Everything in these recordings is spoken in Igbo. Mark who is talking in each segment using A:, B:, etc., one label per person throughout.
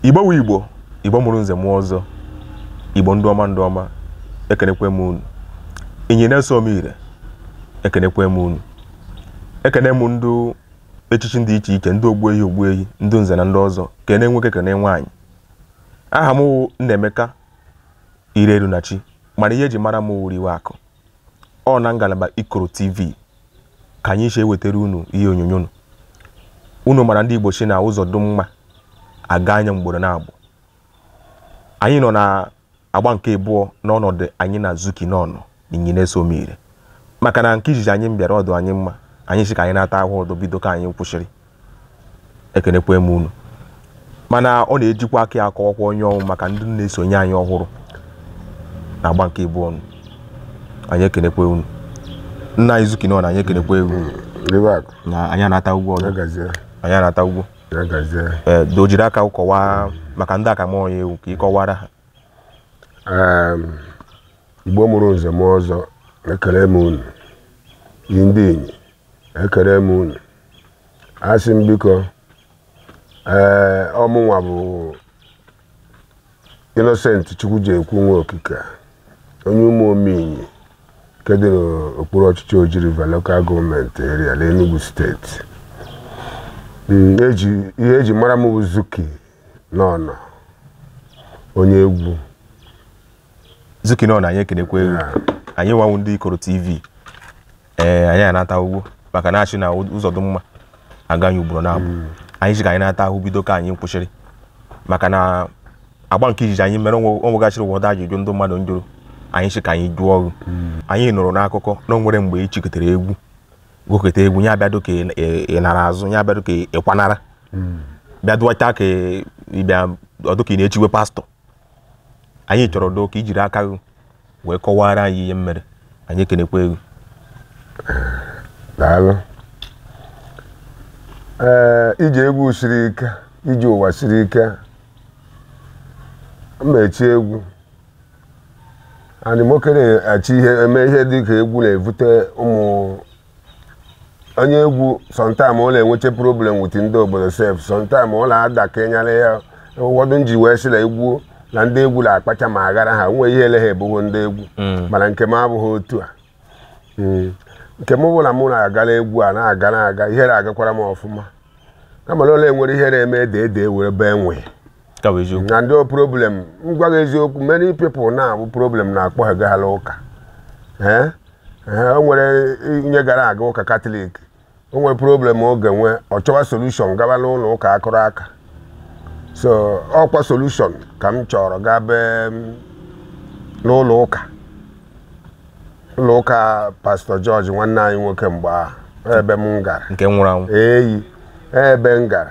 A: igbo wu igbo igbo mụrụ nze mụọ ọzọ igbo ndị ọma ndị ọma ekenekwe m unu inyi na-eso m ire ekenekwe m unu ekene m ndị echichi dị iche iche ndị ogbu ehi ogbu ehi ndị nze na ndị ọzọ kene nwoke kene nwaanyị aha m wụ Nnaemeka Irerunachi mana ihe eji mara m wụrụ iwe akụ ọ na ngalaba Ikoro TV ka anyị si ewetara unu ihe onyonyo nụ unu mara ndị Igbo sị na ụzọ dụ mma a gaa nya mgboro naabụ anyị nọ na agba nke abụọ n'ọnọdụ anyị na Zuki n'ọnọ Inyi na-eso m ire maka na nke izizi anyị bịara ọ dụ anyị mma anyị sị ka anyị nata ahụ ọdụ bido ka anyị kwụsịrị ekenekwe m unu mana ọ na-ejikwa aka ya akọwakwa onye ọ wụ maka ndị na-esonye anyị ọhụrụ na agba nke ịbụọ nụ anyị ekenekwe unu nna anyị Zuki n'ọnọ anyị ekenekwe unu Iweakụ, na anyị anatagwo ọzọ Yagazie, anyị anatagwo Yagazie. ee doo jiri aka kọwaa maka ndị akama onye ị wụ ka ị kọwara ha Um,
B: Igbo mụrụ nze mụọ ọzọ ekele m unu yi ndị Inyi ekere m unu asị m biko ee ọ mụnwa bụ Innocent Chukwujekwu Nwokike onye Ụmụome Inyi nke dị n'okpuru ọchịchị Oji River Local Government Area n'Enugu steeti Mm, eji- ihe eji mara m bụ Zuki n'ọnọ onye egwu
A: Zuki n'ọnọ anyị ekenekwe gị anyịnwa wụ ndị Ikoro TV ee anyị anatagwo maka na a sị na ụzọ dị mma a gaa ya ugboro naabụ anyị sị ka anyị nata ahụ bido ka anyị kwụsịrị maka na agba nke izizi anyị mere o nwe- o nwegasịrị ụfọdụ ajụjụ ndị mmadụ njụrụ anyị sị ka anyị jụọ gị anyị nụrụ n'akụkọ na o nwere mgbe i chikatara egwu gụkata egwu ya abịa dụ ka ị- ị- ị nara azụ ya abịa dụ ka ị kwanara bịa dụwacha ka ị bịa ọ dụ ka ị na-echiwe pastọ anyị chọrọ doo ka i jiri aka gị wee kọwara anyị ihe mere anyị ekenekwe
B: gị daalụ ee ije egwu siri ike ije ụwa siri ike mmechi egwu anyị nwoke na-achị ihe eme ihe dị ka egwu na-evute ụmụ onye egwu sometime ọ na-enwecha problem with ndị obodo sef sometime ọ na-adị ka onye ara ya ụfọdụ nji wee sị na egwu na ndị egwu na-akpacha ma aghara ha nwee ihe ele ha ebughị ndị egwu mana nke m abụghị otu a Mm. nke m bụ na mụ na-agara egwu a na-aga na-aga ihe na-agakwara m ọfụma kama na o nwere ihe na-eme ede ede were bee nwee ka bụ eziokwu na ndị problem m gwa gị eziokwu many people na-abụ problem na-akpọ ha gaghara ụka ee ee, o nwere onye gara aga ụka katọlik o nwere problem ọ ga-enwe ọ chọwa solution gaba n'ụlọ ụka akụrụ aka so ọ kwa solution ka m chọrọ gabe n'ụlọ ụka ụlọ ụka pastọ george nwanne anyị nwoke mgbe ahụ ebe m gara nke nwụrụ anwụ eyi
A: ebe
B: m gara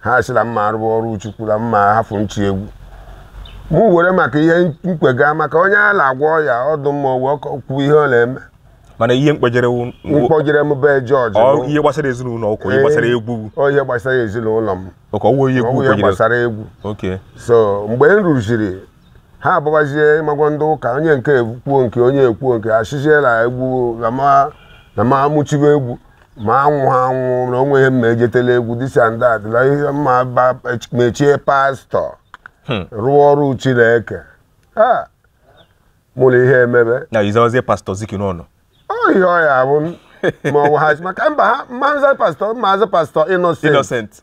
B: ha sị na m ma-arụwa ọrụ chukwu na m ma-ahafụ ichi egwu mụ were maka ihe mkpega maka onye a na-agwọ ọya ọ dụ mma o wee kọ- kwuo ihe ọ na-eme mana ihe mkpejere
A: wụ kpọjere m be
B: george ọ- ihe gbasara ezinụlọ
A: ụkọ ihe gbasara egwu ọ ihe gbasara
B: ezinụlọ m ụkọ ọwụ ihe ọ egwu bụ ihe kpejere
A: gbasara
B: egwu oke
A: so mgbe
B: m ruziri ha abụbazie ị ma agwa ndị ụka onye nke ekwuo nke onye ekwuo nke a sịzie la egwu na ma na ma mụ chibe egwu ma anwụ ha anwụ na o nwe ihe m ma-ejete la egwu this and that na ihe ma ba- m echie pastọ Hmm. rụọ ọrụ chineke ha mụ na ihe emebe na izawazie
A: pastọ ziki n'ọnụ ọ ihe ọ
B: ya bụ ma ọ bụ ha maka mba aha m ma-aza pastọ m ma-aza pastọ innocent innocent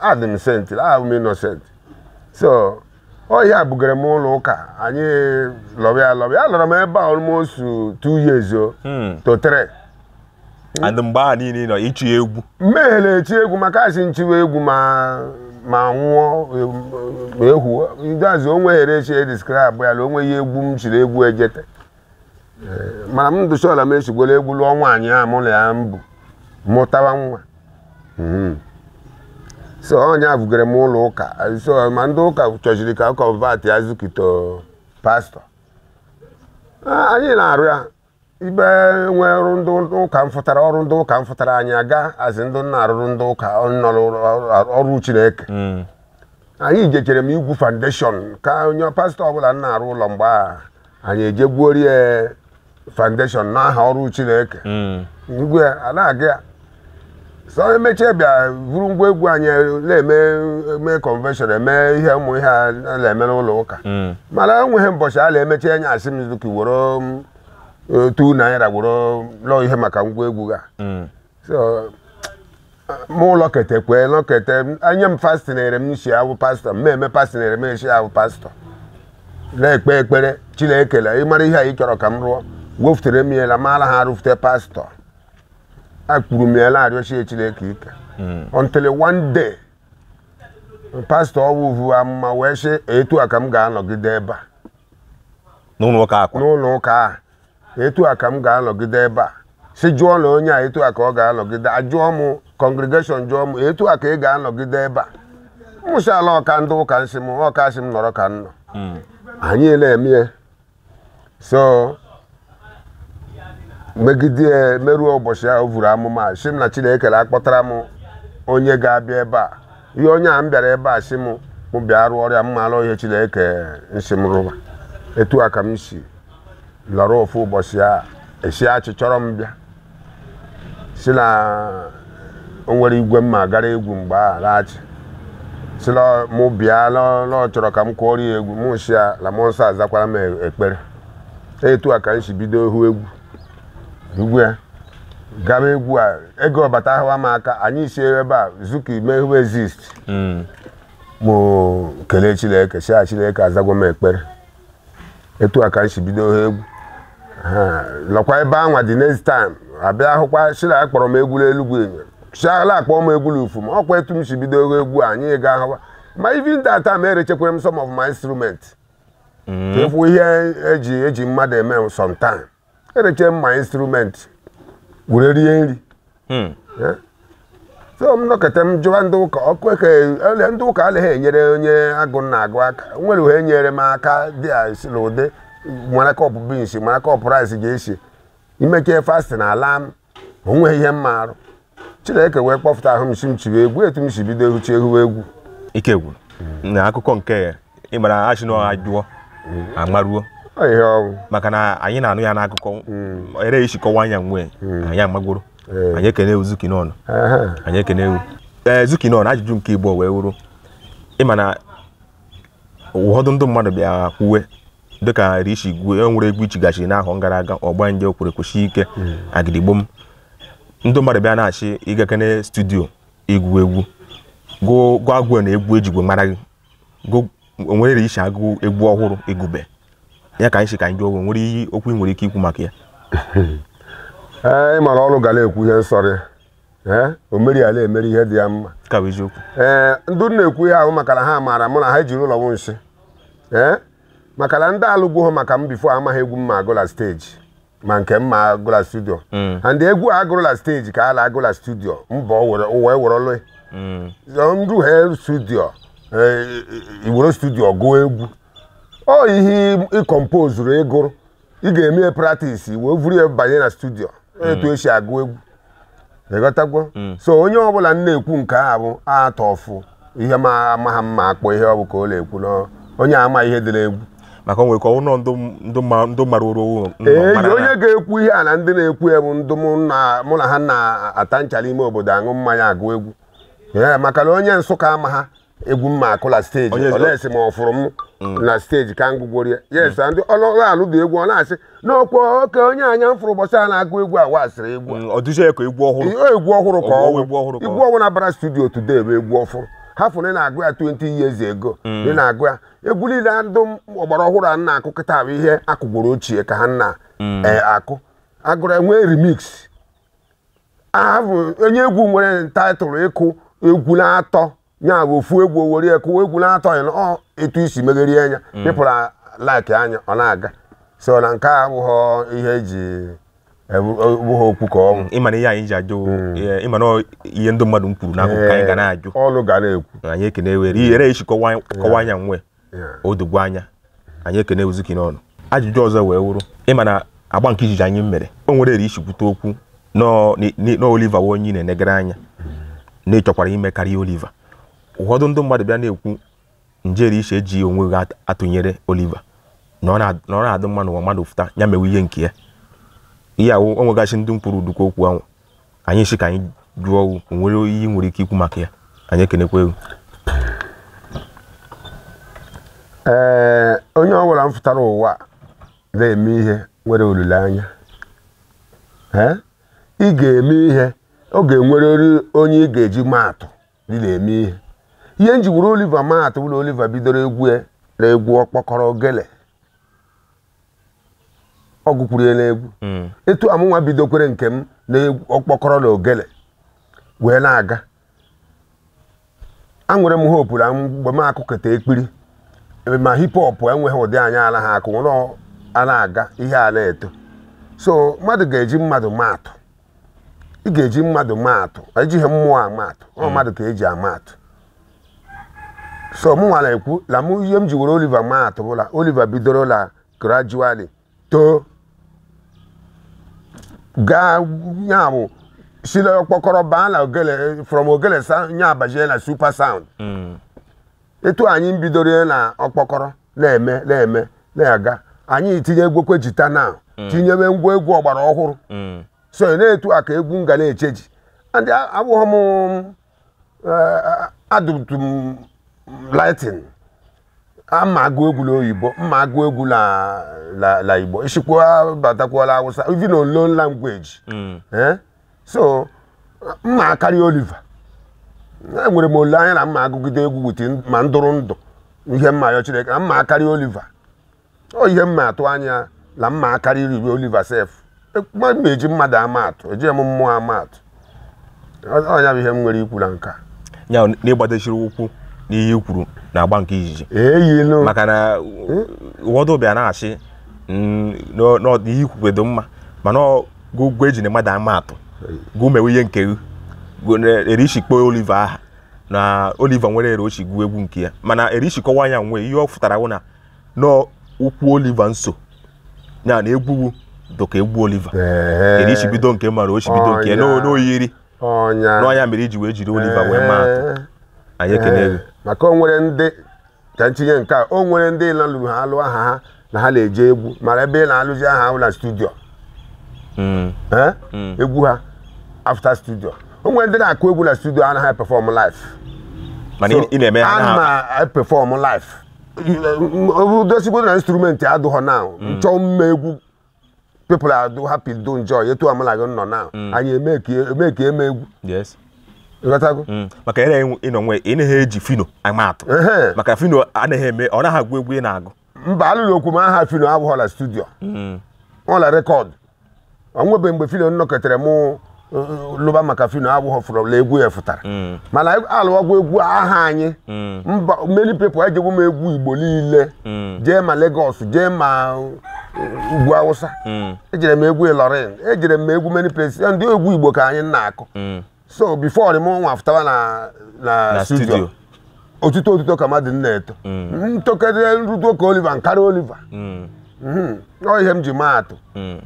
B: adị m senti awụ m innocent so ọ ihe a bugara m ụlọ ụka anyị lọrọ ya lọrọ ya alọrọ m ebe a almost two years o hmm. to three and mgbe
A: ahụ niile
B: nọ
A: ichi egwu
B: mmehele echi
A: egwu
B: maka a sị m
A: chiwa
B: egwu ma ma nwụọ ma ehu ndị azụ onwe here chi describe ya na onwe ya egwu m chiri egwu ejete mana m dụ sure la m echigwala egwu lụọ nwaanyị a mụ na ya mbụ mụtawa nwa Mhm. so ọ ya bugara m ụlọ ụka so ma ndị ụka chọshiri ka convert ya zuki to pastọ A- anyị na-arụ ya ibe nwe ọrụ ndị ụka mfụtara ọrụ ndị ụka mfụtara anyị aga a sị ndị na-arụrụ ndị ụka nọrọ ọrụ- ọrụ chineke anyị jechere m igwu foundation ka onye pastọ ọbụla na-arụ ụlọ mgbe a anyị eje gwuori ya foundation n'aha ọrụ chineke Mm. ngwe ya a na-aga ya so e mechie bịa buru ngwa egwu anyị na-eme eme convention eme ihe ụmụ ihe a na-eme n'ụlọ ụka Mm. mana enweghị mbọchị a na-emechi onye asị m zuki were m, eh, two naira were lụọ ihe maka ngwa egwu ga Mm. so mụ alọketekwe nọkete e nye m fasting ere m si awụ pastọ m eme fasting ere m esi awụ pastọ na-ekpe ekpere chineke la ị mara ihe a ị chọrọ ka m rụọ wefutere m ya la mara ha arụfute pastọ akwụrụ m ya la-arịọshi chineke ike until one day pastọ ahụ vuo amụma wee sị etu a ka m ga-anọgide ebe a n'ụlọ ụka akwa n'ụlọ ụka a etu a ka m ga-anọgide ebe a si jụọ na onye a etu a ka ọ ga-anọgide ajụọ m congregation jụọ m etu a ka ị ga-anọgide ebe a mụ sị a la ọka ndị ụka nsị m ọka sị m nọrọ ka m nọ hmm. anyị na-eme ya so megide ya meruo ụbọchị ahụ vuru amụma a, sị m na chineke akpọtara m onye ga-abịa ebe a ihe onye a m bịara ebe a sị m mụ bịa rụọ ọrụ ya m mara ihe chineke nsị m rụba etu a ka m si lọrọ ofu ụbọchị a esi achị chọrọ m bịa si na o nwere igwe mma gara egwu mgbe a laghachi si na mụ bịa na na ọ chọrọ ka m kụọrọ ya egwu mụ si ya na mmụọ nsọ azakwara m e- ekpere etu a ka m si bido hụ egwu egwu ya gaba egwu a ego ọbata ahụwa m aka anyị si ebe a zuka ime hụ exist mụ kelee chineke si a chineke azagwo m ekpere etu a ka m si bido hụ egwu Ha, lọkwa ebe anwa the next time abịa hụkwa shi la akpọrọ m egwu n'Elugwu enyo shi la akpọọ m egwu n'ufu m ọkwa etu m si bido hụ egwu a, anyị ga ahụwa ma even that time erechekwere m some of my instrument ka efu ihe eji mmadụ eme sometime ereche m my instrument were rie nri hmm. eh? so m nọkọta m jụwa ndị ụka ọkụ eke ndị ụka anaghị enyere onye agụụ na-agụ aka nwere uhe nyere m aka dị a si na ụdị mara cup beans mara cup rice ga-esi imeke fasting ala m o nwee ihe m marụ chineke wee kpọpụta ahụ m si m chiwe egwu etu m si bido ehuchi ehuwe egwu ike
A: gwụ na akụkọ nke ya ị mara ashị na ajụọ amaruo Ọ ihe ọnwụ
B: maka na anyị na-anụ
A: ya n'akụkọ rishi kọwa anya nwee anyị amagoro Ee. anyị ekene ewu zuki n'ọnụ Ehe. anyị ekene ewu ee zuki n'ọnụ ajụjụ nke ịbụọ wee wụrụ ịma na ụfọdụ ndị mmadụ bịa kwuwe dịka rishi igwe e nwere egwu ichigachi n'ahọ gara aga ọgbanje o kwụrụ kwụsie ike agidigbo m ndị mmadụ bịa na-ashị ịgakene studio ịgụ egwu gụọ gụọ agwụ na egwu ejigwe mara gị onwere rishi agụ egwu ọhụrụ ị gụbe ya ka anyị si ka anyị jụọ gị, onwere ihe okwu ị nwere ike ikwu maka ya ee
B: ị mara ọrụ ga na-ekwu ihe nsọrị ee o meri ala emeri ihe dị ya mma ka bụ eziokwu
A: ee ndị
B: na-ekwu ihe ahụ maka na ha maara mụ na ha ejiri ụlọ m nsị ee maka na ndị alụgwụghọ maka m before amaghị egwu m ma agụ la stage ma nke m ma agụ la studio and egwu a agụrụ la stage ka a la-agụ la studio mba o were- o wee werelụ ndụ ha studio ee, iwere studio gụọ egwu ọ ihe ị composeru ịgụrụ ị ga-eme ya practice wee vuru ya banye na studio etu esi agụ egwu ịghọtagwo so onye ọbụla m na-ekwu nke a bụ atọ ọfụ ihe ma amaha m ma akpọ ihe ọ bụ ka ọ na-ekwu na onye ama ihe dị n'egwu maka o nwere ka ọnwụ
A: nọ ndụ ndụ ma- ndụ mara oru owu nọ ee mara na- onye
B: ga-ekwu ihe a na ndị na-ekwu ya bụ ndụ mụ na- mụ na ha na-ata nchara ime obodo aṅụ mmanya agụ egwu ee maka na onye Nsụka amaha egwu m na-akụ la stage unless ma ọ fụrụ m na stage ka m gụgworo ya yes ndị ọlụlụ alụ dị egwu ọ na-asị n'ọkwa oke onye anya m fụrụ ụbọchị a na-agụ egwu a wasịrị egwu a. Mm, ọ dụzie ya ka egwu ọhụrụ Ihe
A: egwu ọhụrụ ka Ọ bụ ọwụ egwu ọhụrụ ka ọ
B: egwu ọhụrụ na-abara studio today bụ egwu ọfụrụ ha fụrụ na ị na-agụ ya 20 years ago ị na-agụ ya egwu niile a ndụ ọgbara ọhụrụ a na-akụ kịta bụ ihe akụgworo ochie ka ha na-akụ agụrụ enwee remix aha bụ onye egwu nwere title ịkụ egwu na-atọ ya bụ ofu egwu owere ekụ egwu na-atọ ya na ọ etu isi megherie anya people like anya ọ na-aga so na nke a abụghị ihe eji ebu- ọ bụghị okwu ka ọnwụ ịma na ihe anyị ji
A: ajụ eh, ịma na ọ ihe ndị mmadụ kwuru n'akụkụ ka anyị ga na-ajụ unu ga na-ekwu
B: anyị ekene were ihere
A: esi kọwa kọwa anya nwe o dogwo anya anyị ekene Uzuki n'ọnụ ajụjụ ọzọ wee wụrụ ịma na agba nke izizi anyị mere o nwere eri i si kwute okwu na Oliver wụ onye ị na-enegara anya na ịchọkwara ime karịa Oliver ụfọdụ ndị mmadụ bịa na-ekwu njeri i si eji onwe gị atụnyere Oliver na ọ na-adị mma n'ụwa mmadụ fụta ya mewe ihe nke ya ihe ahụ o nwegasị ndị mkpụrụ udukwu okwu ahụ anyị si ka anyị jụọ o nwere ihe i nwere ike ikwu maka ya anyị ekenekwa
B: egwu ee onye ọ bụla m fụtara ụwa na-eme ihe nwere olileanya ee ị ga-eme ihe ọ ga-enwerịrị onye ị ga-eji maatụ ị na-eme ihe ihe m ji were Oliver maatụ bụ la Oliver bidoro egwu ya na egwu ọkpọkọrọ ogele ọ gụkwuru ya n'egwu Mm. etu a mụnwa bidokwere nke m na egwu- ọkpọkọrọ na ogele wee na-aga anwere m hope na mgbe m akụkọta ekpiri ebe ma hip hop enweghị ụdị anyị alaha akụ nwere ọ- a na-aga ihe a na-eto so mmadụ ga-eji mmadụ maatụ ị ga-eji mmadụ maatụ ejighị mmụọ ama atụ ọ mmadụ ka eji ama atụ so mụ nwa na-ekwu la mụ ihe m ji were Oliver maa atụ bụ la Oliver bidoro la gradually too gaa ya bụ si la ọkpọkọrọ baa na ogele from ogele sa- ya abazie na super sound Mm. etu anyị bidoro ya na ọkpọkọrọ na-eme na-eme na-aga anyị tinye egwekwe jita na tinyebe ngwa egwu ọgbara ọhụrụ Mm. so na etu a ka egwu m ga na-echeji and abụghị m adụtụ m lightin ama agụ egwu na oyibo m ma agụ egwu na igbo isikwa batakwala awụsa even unknown language hmm. eh? so m ma akarị oliver enwere m olileanya na m ma agụgide egwu wit ma m dụrụ ndụ ihe m ma ayọ chineke na m ma akarị oliver ọ ihe m na-atụ anya na m ma akarị iribe Oliver sef ma m na-eji mmadụ ama atụ eji m mmụọ ama atụ Ọ- ọnya bụ ihe m nwere ikwu na nka ya na
A: ị gbadesiri ụkwụ n'ihe i kwuru na agba nke izizi eyinu maka na ụfọdụ bịa na-asị na ihe i kwukwe dụ mma mana ọ- gụ gụ ejina mmadụ ama atụ gụ mewe ihe nke gị gụ na- ere i shi kpọọ Oliver aha na Oliver nwere ere o shi gụọ egwu nke ya mana ere i shi kọwaa nya nwe ihe ọ fụtara wụ na nọ ụkwụ Oliver nso ya na egwu wụ dụka egwu Oliver ere i shi bido nke ma ere o si bido nke n'o- Ọnya. n'oyiri ọnya n'ọnya mere i ji wee jiri Oliver wee maa atụ anyị ekele gị maka o nwere ndị
B: ka ntinye nke a o nwere ndị lalụrụ ha alụ aha ha na ha na-eje egwu mana ebe ị na-alụzi aha ahụ na studio Mm. Eh? egwu ha after studio o nwere ndị na-akụ egwu na studio anaghị perform live mana
A: ị- ị na-eme ha na ana m perform
B: live dosigbo na instrument adụghọ na m chọọ mme egwu people are do happy do enjoy etu amala gị nọ na anyị emeki eme egwu
A: ịghọtago
B: mm. maka ere ị nọ
A: nwe ị naghị eji Phyno ama atụ maka Phyno anaghị eme ọ naghị agụ egwu ị na-agụ mba alụghịkwa m
B: aha Phyno abụghọ la studio mm. ọla rekọdụ o nwebe mgbe Phyno nnọketere m uh, uh, lụba maka Phyno awụghọ fụrụ la egwu ya fụtara mm. mana alụwagwa egwu aha anyị mm. mba many people ejegwo m egwu igbo niile mm. jee ma Lagos jee ma uh, ugwu awụsa ejere m egwu Ilorin ejere m egwu many places ndị egwu igbo ka anyị na-akụ so before m nwa afụtawa na na na studio studio otuto otuto ka mmadụ na-eto m tokere m rudo ka Oliver m karị Oliver Mm, Mhm. ọ ihe m ji maa atụ mm,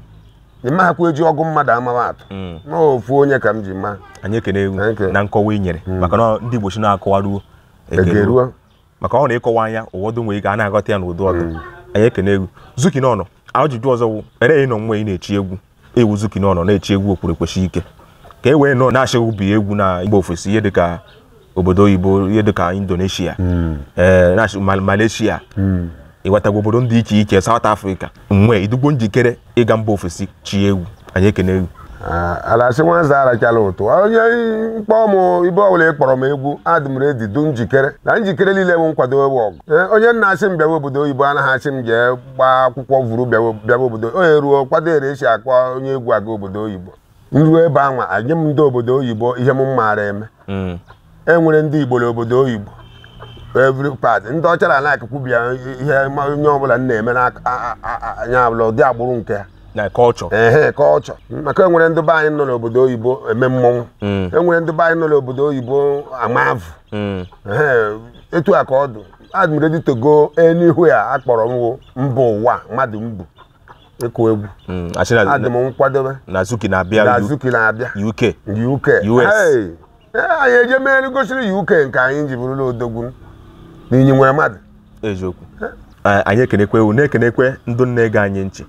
B: ịmahakwa eji ọgụ mmadụ amawa atụ mm. na ofu onye ka m ji maa anyị ekenee gụ Thank you.
A: na nkọwa i nyere maka na ndị igbo si na a kọwaruo e geruo maka ọ na ị kọwaa nya ụfọdụ nwere ike a na-aghọta ya n'ụdị ọ dụ mm. anyị ekenee gụ zuki n'ọnụ ajụjụ ọzọ wụ ere ị nọ nwe ị na-echi egwu ị wụ zuki n'ọnụ na-echi egwu okwuru ekweshi ike ka e wee nọ na-asị gụ bịa egwu na mba ofesi ihe dịka obodo oyibo ihe dịka indonesia mm. eh, malaysia mm. ịghọtagwa obodo ndị iche iche south africa nwe ị dụgbo njikere ịga mba ofesi chie egwu anyị ekenee gụ a
B: la-asị nwanza arachala ụtụ onye mkpọ m ebe ọbụla ị kpọrọ m egwu adị m ready dụ njikere na njikere niile bụ nkwadebe ọgụ Ee, onye na-asị m bịawa obodo oyibo anaghị asị m jee gbaa akwụkwọ vuru bịawa bịawa obodo onye ruo kwado ere e si akpọ onye egwu aga obodo oyibo nruo ebe anwa anyị m ndị obodo oyibo ihe m maara eme mm. e nwere ndị igbo n'obodo oyibo every part ndị ọcha na-alike ịbịa ihe onye ọbụla na-eme n'anya abụla ụdị agbụrụ nke ya na culture
A: ehe
B: culture maka enwere ndị be anyị nọ n'obodo oyibo eme mmọnwụ mm. enwere ndị be anyị nọ n'obodo oyibo ama avụ mm. etu a ka ọ dụ I'm ready to go anywhere a kpọrọ m mbụ ụwa mmadụ mbụ ịkụ egwu Mm, asị na- adị m nkwadobe na zuki na-abịa
A: na U- zuki na-abịa UK UK US. Hey, eh,
B: anyị eje mere gosiri UK nke anyị ji bụrụla odogwu na Inyi nwere mmadụ
A: eziokwu Eh, anyị ekenekwe wụ na-ekenekwe ndị na-ege anyị nchị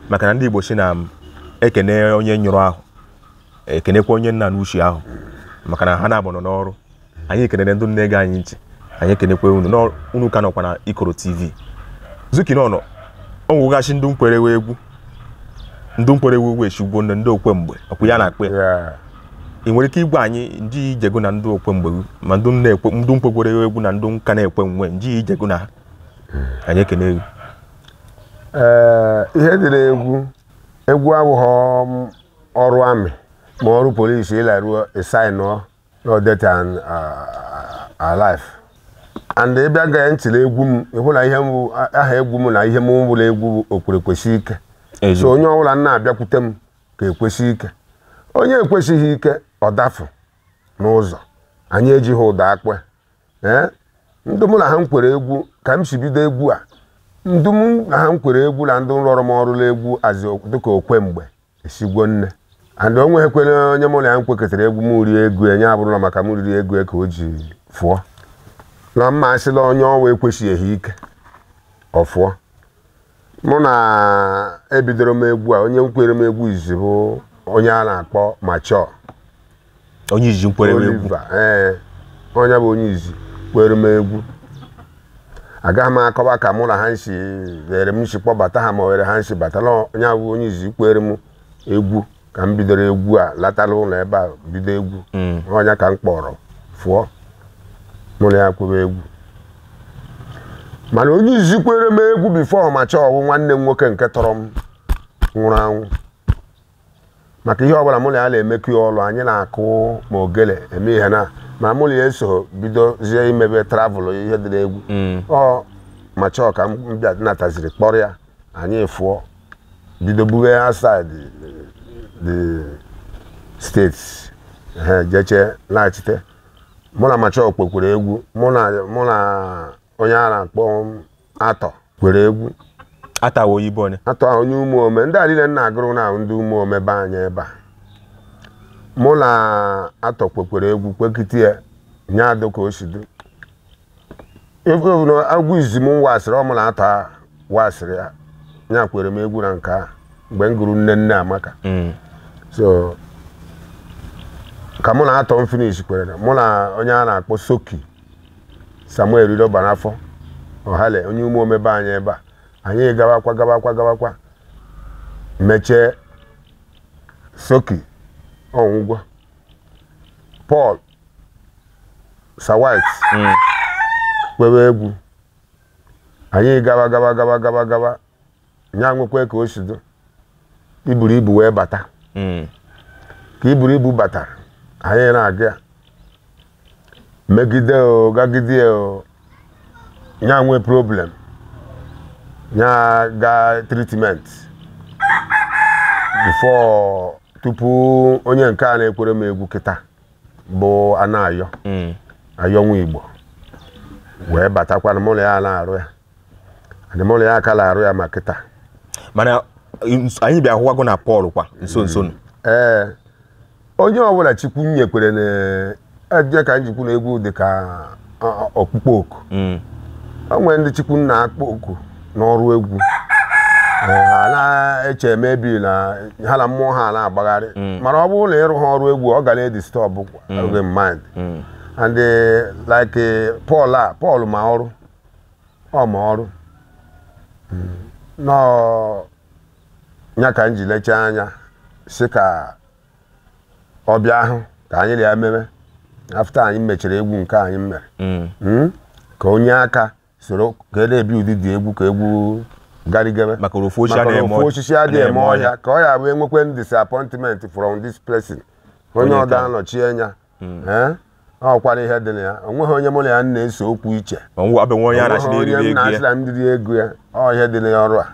A: maka na ndị igbo sị na m ekene onye nyụrụ ahụ ekenekwe onye na-anụ ushi ahụ maka na ha naabọ nọ n'ọrụ anyị ekenere ndị na-ege anyị nchị anyị ekenekwe unu na unu ka nọkwa na Ikoro TV Zuki nọ n'ụnọ o nwegasị ndị nkwere wụ egwu ndị nkwere wụ egwu Esigwo ndị ndị Okwemgbe ọkwa ya na-akpe Yeah. ị nwere ike ịgwa anyị njije gụ na ndị Okwemgbe ma ndị na-ekwe ndị nkwekwere egwu na ndị nka na-ekwe nwe njije gụ na ha anyị ekene egwu Ee,
B: ihe dị n'egwu egwu abụghị ọrụ army ma ọrụ police ị laruo ị sign-ụọ your death and uh, our life and ị bịa gee ntị na egwu m ị hụ na ihe m bụ- a- aha egwu m na ihe m wụ la egwu bụ okwere kwesị ike so onye ọbụla na-abịakwute m ka ekwesị ike onye ekwesịghị ike ọ dafụ n'ụzọ anyị ejighị ụda akpe ee ndị mụ na ha nkwere egwu ka m si bido egwu a ndị mụ na ha nkwere egwu na ndị rụrụ m ọrụ n'egwu azị dịka Okwemgbe Esigwo nne and o nweghịkwere onye mụ na ya nkwekọtara egwu m rie ego ya nye abụrụ na maka m riri ego ya ka o ji fụọ na mma a sị la onye ọwa ekwesịghị ike ọ fụọ mụ na ebidoro m egwu a onye nkwere m egwu izi bụ onye a na-akpọ Macho
A: onye izi nkwere m egwu Oliver
B: ee onye bụ onye izi kwere m egwu agaghị m akọwa ka mụ na ha nsi were m si kpọbata ha ma were ha nsi batala onye bụ onye izi kwere m egwu ka m bidoro egwu a latala ụlọ ebe a bido egwu onye ka m kpọrọ fụọ mụ na ya kwebe egwu mana onye izi kwere m egwu before Macho wụ nwanne m nwoke nke tọrọ m nwụrụ anwụ maka ihe ọbụla mụ na ya na-emekọ ya ọlụ anyị na-akụ ma ogele eme ihe na ma mụ na ya eso bidozie imebe travel ihe dị n'egwu ọ Macho ka m bịa nataziri kpọrọ ya anyị fụọ bido bụbe outside the state ehe jeche laghachite mụ na Macho kwekwuru egwu mụ na mụ na onye a na-akpọ atọ kwere egwu atawa
A: oyibo onye atọ onye umuome
B: ndị a niile m na-agụrụ na ndị umuome be anyị ebe a mụ na atọ kwekwere egwu kwekite ya nye adụ ka o si dị agwụ izi m wasịrị ọ mụ na atọ wasịrị ya nya kwere m egwu na nke a mgbe m gụrụ nne nne amaka mm. so ka mụ na atọ m finish kwere mụ na onye a na-akpọ soki samuel idoba n'afọ ọhale onye umuome be anyị ebe a anyị gawakwa gawakwa gawakwa mechie soki ọ nwụgwo paul sawit kwewe egwu anyị gawa gawa gawa gawa gawa ya nwekwa ka o si dị iburu ibu wee bata Mm. ka iburu ibu batara anyị na-aga ya megide o gagide o ya nwee problem ya gaa treatment before tupu onye nke a na-ekwere m egwu kịta bụ anayọ Mm. ayọ nwa igbo wee batakwana mụ na ya na-arụ ya adị mụ na ya aka na-arụ ya ma kịta
A: mana ns- anyị bịa hụwago na Paul kwa nso nso nụ
B: ee onye ọbụla chukwu nyekwere nya ka m ji kwu na egwu dị ka ọ- ọ- ọkpụkpọ oku Mm. o nwere ndị chukwu na-akpọ oku n'ọrụ egwu Ee, ha na-eche maybe na ha na mmụọ ha na-agbagharị mana ọ bụrụ na ị rụha ọrụ egwu ọ ga na-edisturb gị mind and eh, like eh, Paul a Paul ma ọrụ ọ ma ọrụ nnọọ nya ka m ji lechaa anya sị ka ọ bịa ahụ ka anyị na ya meme after anyị mechara egwu nke anyị mere Mm. ka o nye aka soro ka e na-ebi ụdịdị egwu ka egwu garigebe Maka na ofu osisi Maka na
A: adịghị eme ofu ọ- osisi adịghị adịghị
B: eme eme ọhịa ka ọ ya-abụ e nwekwe disappointment from this person onye Onye ọdọ ka- anọchi anya hmm. eh? ọ kwara ihe dị na ya o nweghị onye mụ na ya na-ese okwu iche onye
A: m na-asịra m dịrị ego ya
B: ọ ihe dị na ya ọrụ a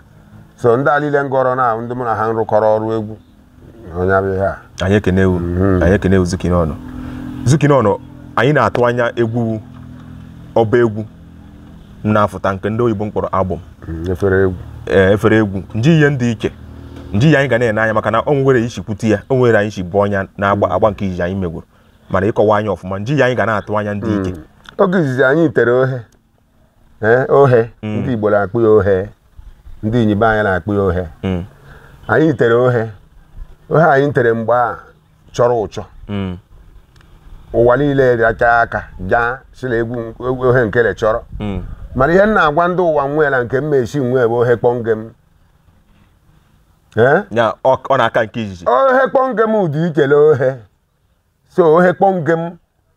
B: so ndị a niile m gụrụ na ndị mụ na ha rụkọrọ ọrụ egwu ọ nya bụ ihe a anyị ekenewo
A: hmm. anyị ekenewo zukinọnụ zukinọnụ anyị na-atụ anya egwu ọba egwu m na-afụta nke ndị oyibo kpọrọ album mm, efere egwu eh, efere egwu nji ihe dị iche nji ihe anyị ga na-ene anya maka na o nwere isi kwute ya o nwere anyị si bụ ọnya na-agba mm. agba nke izizi anyị megwuru mana ị kọwa anyị ọfụma nji ihe anyị ga na-atụ anya dị iche mm. oge izizi
B: anyị tere ohe eh, ohe ndị Igbo na-akpọ ya ohe ndị inyi be anyị na-akpọ ya ohe anyị tere ohe ohe anyị tere mgbe a chọrọ ụchọ mm. ụwa niile racha aka jaa sị na egwu ohe nkele chọrọ Mm. mana ihe m na-agwa ndị ụwa nwee na nke m mesi nwee bụ ohe kpọnge m
A: ee ya ọ ọ na-aka nke izizi ohe kpọnge m
B: dị ikele ohe so ohe kpọnge m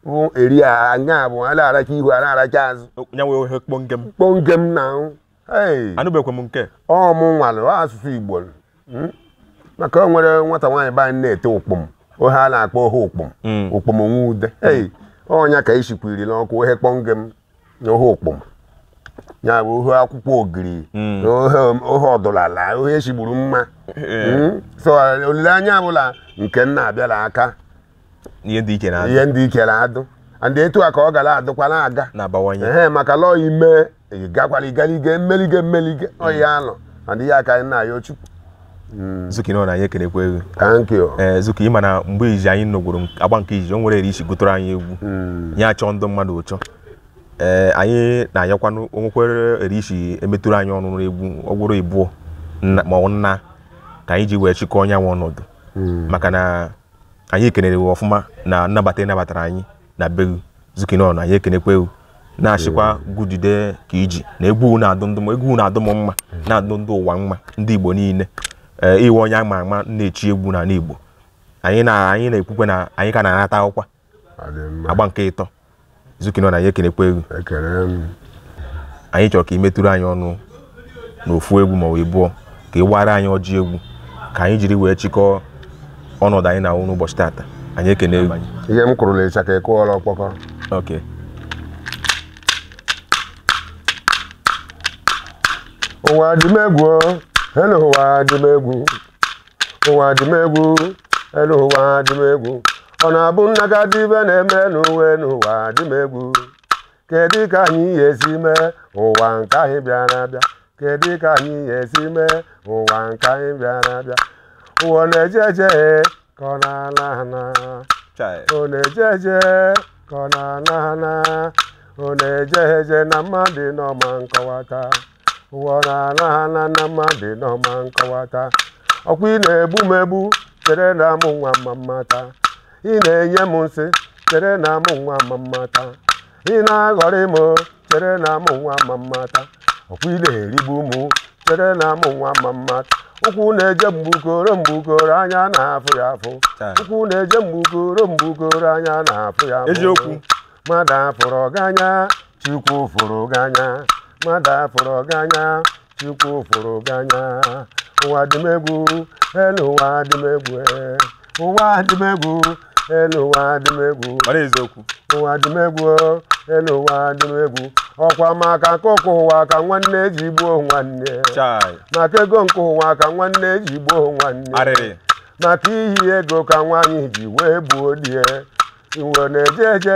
B: bụ eri a anya bụ a na-aracha ihu a na-aracha azụ ya nwee ohe kpọnge m
A: kpọnge m na
B: anụbekwe
A: m nke ọ mụ
B: nwalụ asụsụ igbo hmm? maka o nwere nwata nwaanyị be anyị na-ete ụkpụm ohe a na-akpọ ohe ụkpụm hmm. ụkpụm nwa ude hmm. ọ nya ka isikwiri n'ọkụ ohe kpọnge m na ohe ụkpụm ya bụ ohe akwụkwọ ogiri na ohe ọdụlala ohe esigburu mma so olileanya bụ la nke nna abịala aka ihe
A: ndị ike na-adụ ihe ndị ikere
B: adụ and etu a ka ọ gara adụkwa na-aga na-abawanye ehe
A: maka lọọ
B: ime ị gakwara igaliga mmeliga mmeliga ọya anọ and ihe a ka anyị na-ayọ chukwu
A: zukinon anyị ekenekwa gụ thank you ee
B: zuki ịma na mgbe
A: izizi anyị nọgwuru nk- agba nke izizi o nwere eri i si gụtụrụ anyị egwu ya achọ ndụ mmadụ ụchọ ee anyị na-ayọkwanụ o nwekwere eri i si emetụrụ anyị ọnụ n'egwu ọ gwụrụ ịbụọ nna- ma ọ bụ nnaa ka anyị ji wee chịkọọ onye nwe ọnọdụ maka na anyị ekenere gị ọfụma na nnabata ị nabatara anyị na be gị zukinon anyị ekenekwe gị na-achịkwa gudide ka iji na egwu na-adụ m mma na-adụ ndụ ụwa mma ndị igbo niile ee ị wụ onye a ma ama na-echi egwu n'ala igbo anyị na-ekwukwe na anyị ka na-anata akwụkwọ agba nke ịtọ zukinon anyị ekenekwa gụ anyị chọrọ ka ị metụrụ anyị ọnụ n'ofu egwu ma ọ ịbụọ ka ị wara anyị ọjị egwu ka anyị jiri wee chịkọọ ọnọdụ anyị na-awụ n'ụbọchị tata anyị ekene gụ ihe m kwuru na
B: ịchaka ịkụọla ọkpọkọ okay ụwa dị m egwu elu ụwa dị m egwu ụwa dị m egwu elu ụwa dị m egwu ọ na-abụ nna ga dị ibe na-eme n'uwe n'ụwa dị m egwu kedu ka anyị ya esi mee ụwa nke anyị bịara abịa kedu ka anyị ya esi mee ụwa nke anyị bịara abịa ụwa na-eje eje ka ọ na-ana ana Chai. ọ na-eje eje ka ọ na-ana ana ọ na-eje eje na mmadụ ama nkọwata ụwa na-ana ana na mmadụ ama nkọwata ọkwa ị na-egbu m egbu chere na mụ nwa ama mmata ị na-enye m nsị chere na mụ nwa ama mmata ị na-aghọrị m chere na mụ nwa ama mmata ọkwa ị na-erigbu m chere na mụ nwa ama mmata ụkwụ na-eje mgbukoro mgbukoro anya na-afụ ya afụ Taa. ụkwụ na-eje mgbukoro mgbukoro anya na-afụ ya afụ Eziokwu. mmadụ
A: afụrụ
B: ọganya chukwu fụrụ gị anya mmadụ afụrụ gị anya chukwu fụrụ gị anya ụwa dị m egwu elu ụwa dị m egwu eh. ụwa dị m egwu elu ụwa dị m egwu mara eziokwu ụwa dị m egwu oh, elu ụwa dị m egwu ọkwa maka akụ nke ụwa ka nwanne ji gbuo nwanne chai maka ego nke ụwa ka nwanne ji gbuo nwanne arịrị maka ihi ego ka nwaanyị ji wee gbuo di e iwe na-eje eje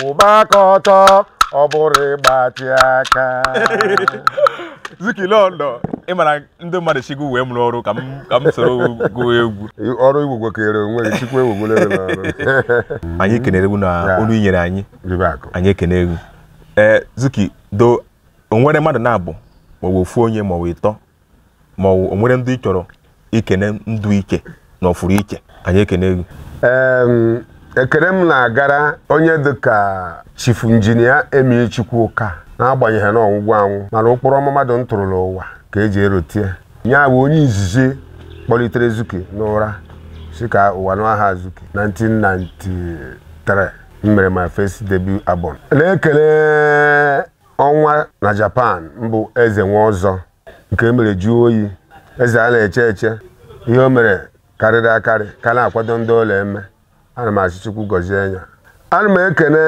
B: kwụba aka ọtọ ọ bụrụ ịgbatị aka
A: zikilọndọ ị mara ndị mmadụ chukwu wee m n'ọrụ ka m ka m soro gụọ egwu ọrụ igwugwo
B: kere onwe gị chukwu ewugwole gị
A: n'ọrụ anyị kenere gị na olu i nyere anyị ribe akụ anyị ekene gị ee zuki do o nwere mmadụ naabọ ma ọ bụ ofu onye ma ọ bụ ịtọ ma ọ bụ o nwere ndị ị chọrọ ikene ndụ iche na ọfụrụ iche anyị ekene gị
B: Em, ekene m na-agara onye dịka chifu injinia emi chukwuka n'agbanyeghị na ọ nwụgwo anwụ mana ụkpụrụ ọma mmadụ ntụrụ la ụwa ka e ji erotie ya bụ onye izizi kpọlitere zuki n'ụra sị ka ụwa nụ aha zuki 1993 m mere my first debut album na-ekele ọnwa na japan mbụ eze nwa ọzọ nke mere jụọ oyi eze a na-eche eche ihe o mere karịrị akarị ka na-akwado ndị ọ na-eme ana m asị chukwu gọzie ya ana m ekene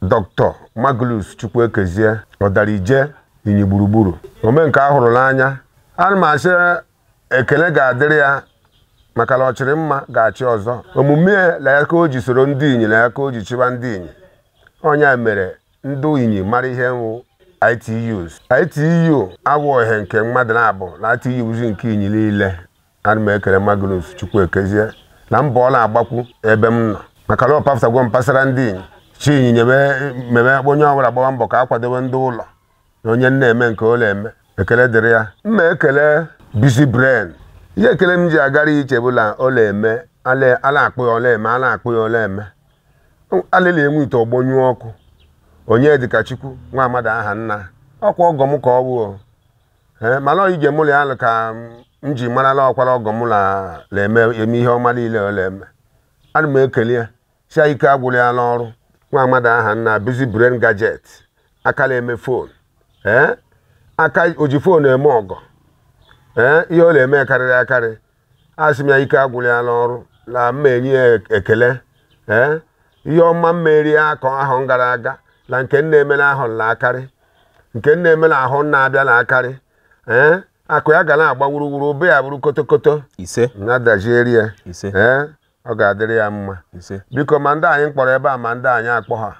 B: doctor Magnus Chukwuekezie ọdarije inyi gburugburu ome nke a hụrụ n'anya ana m asị ekele ga-adịrị ya maka na ọ chịrị mma ga-achị ọzọ omume ya na ya ka o ji soro ndị inyi na ya ka o ji chịba ndị inyi onye mere ndị inyi mara ihe wụ ITU sị ITU awụhọ nke mmadụ naabọ na ITU bụzi nke inyi niile ana m ekele Magnus Chukwuekezie na mbọ ọ na-agbakwu ebe m nọ maka na ọ pafụtagwo m pasara ndị inyi chi inyinya meme onye ọbụla gbawa mbọ ka a kwadobe ndị ụlọ na onye na-eme nke ọ na-eme ekele dịrị ya m na-ekele Busy Brain ihe ekele m ji agara iche bụ na ọ na-eme a na-akpọ ya ọ na-eme a na-akpọ ya ọ na-eme alịla enwe ite ọgbọnyụọ ọkụ onye dịka chukwu nwa amadi aha nna ọkwa ọgọ m ka ọ bụ ee mana ọ ije mụ na ya alụ ka m ji mara na ọkwa na ọgọ m la- na-eme eme ihe ọma niile ọ na-eme ana m ekele ya sị ya ike agwụla ya n'ọrụ nwa amadi aha nna Busy Brain Gadget aka na-eme phone ee aka o ji phone eme ọgọ ee ihe ọ na-eme karịrị akarị asị m ya ike agwụla ya n'ọrụ na m na-enye ya ekele ee ihe ọma mere ya ka ahọ gara aga na nke na-eme n'ahọ na-akarị nke na-eme n'ahọ na-abịa na-akarị ee akụ ya ga na-agba wuruwuru ụba ya bụrụ kotokoto ise na-adazịrị ya ise ee ọ ga-adịrị ya mma ise biko ma ndị anyị kpọrọ ebe a ma ndị anyị akpọhọ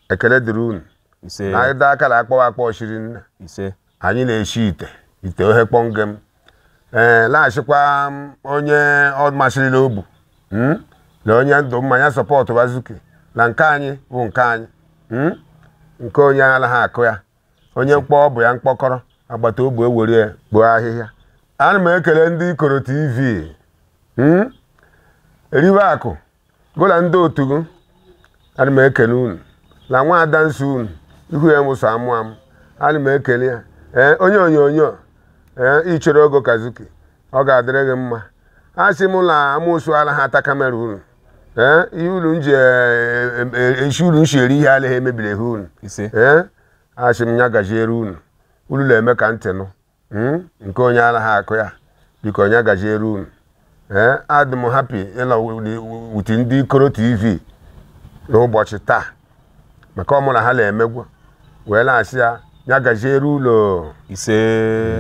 B: ekele dịrị unu ise na anyị dọọ akara akpọwa akpọ shiri nne ise anyị na-eshi ite ite ohe kpọnge m ee laghachikwa m onye ọ masịrị la obu mm, na onye ndụ mmanya sọpọtụwa Zuki na nke anyị bụ nke anyị mm, nke onye anaghị akụ ya onye mkpọ ọ bụ ya mkpọkọrọ agbata ogbe ewere ya kpoo ahịhịa ana m ekele ndị ikoro tv mm, eriwe akụ gụ na ndị otu gị ana m ekele unu na nwa ada nsọ unu ihu ya mụsọ amụ amụ ana m ekele ya ee onye onyonyo ee ichere ogo ka Zuki ọ ga-adịrị gị mma a sị m na amụsụ ala ha ata kamera unu ee ihe unu nji e- e- eshi unu shi eri ihe ala ha emebiri ihe unu ise ee a sị m ya gajiere unu unu na-eme ka ntị nụ hmm? nke onye anaghị akụ ya biko nya gajiere unu ee eh? adị m happy ịnọ with ndị ikoro tv n'ụbọchị taa maka ọ mụ na ha na-emegwu wee na-asị ya ya gajiere unu ise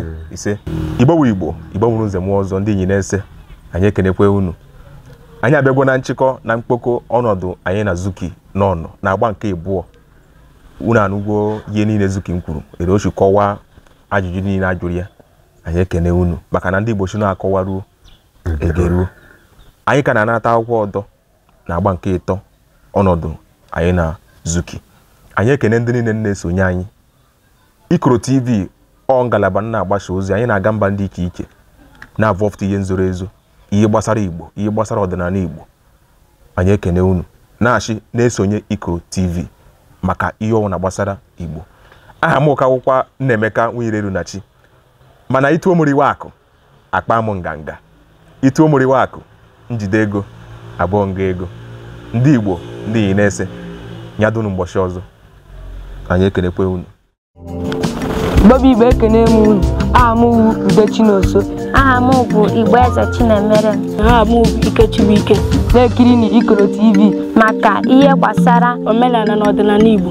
A: hmm. ise igbo wu igbo igbo mụrụ nze mụọ ọzọ ndị Inyi nese anyị ekenekwe unu anyị abịagwo na nchịkọ na mkpokọ ọnọdụ anyị na zuki n'ọnụ na agba nke ịbụọ unu anụgwo ihe niile zuki nkwuru ere o shi kọwaa ajụjụ niile a jụrụ ya anyị ekene unu maka na ndị Igbo sị na a kọwaruo e geruo anyị ka na-anata akwụkwọ ọdọ na agba nke ịtọ ọnọdụ anyị na Zuki anyị ekene ndị niile na-esonye anyị Ikoro TV ọ ngalaba na-agbasa ozi anyị na-aga mba ndị iche iche na-avọfụta ihe nzoro ezo ihe gbasara Igbo ihe gbasara ọdịnala Igbo anyị ekene unu na-ashị na-esonye Ikoro TV maka ihe ọwụna gbasara Igbo aha mụ ka wụkwa Nnaemeka Nwireru na chi mana i tuo mụ eriwe akụ akpa m nganga i tuo mụ eriwe akụ njide ego abụọ nga ego ndị Igbo ndị Inyi nese nya dụnụ mgbọchị ọzọ anyị ekenekwe unu
C: Igbo bụ Igbo ekene m unu aha m wu Ude Chinoso aha m
D: bụ Igbo Eze Chinemere aha m bụ
C: Ike Chibuike na-ekiri na Ikoro TV
D: maka
C: ihe gbasara omenala na
D: ọdịnala Igbo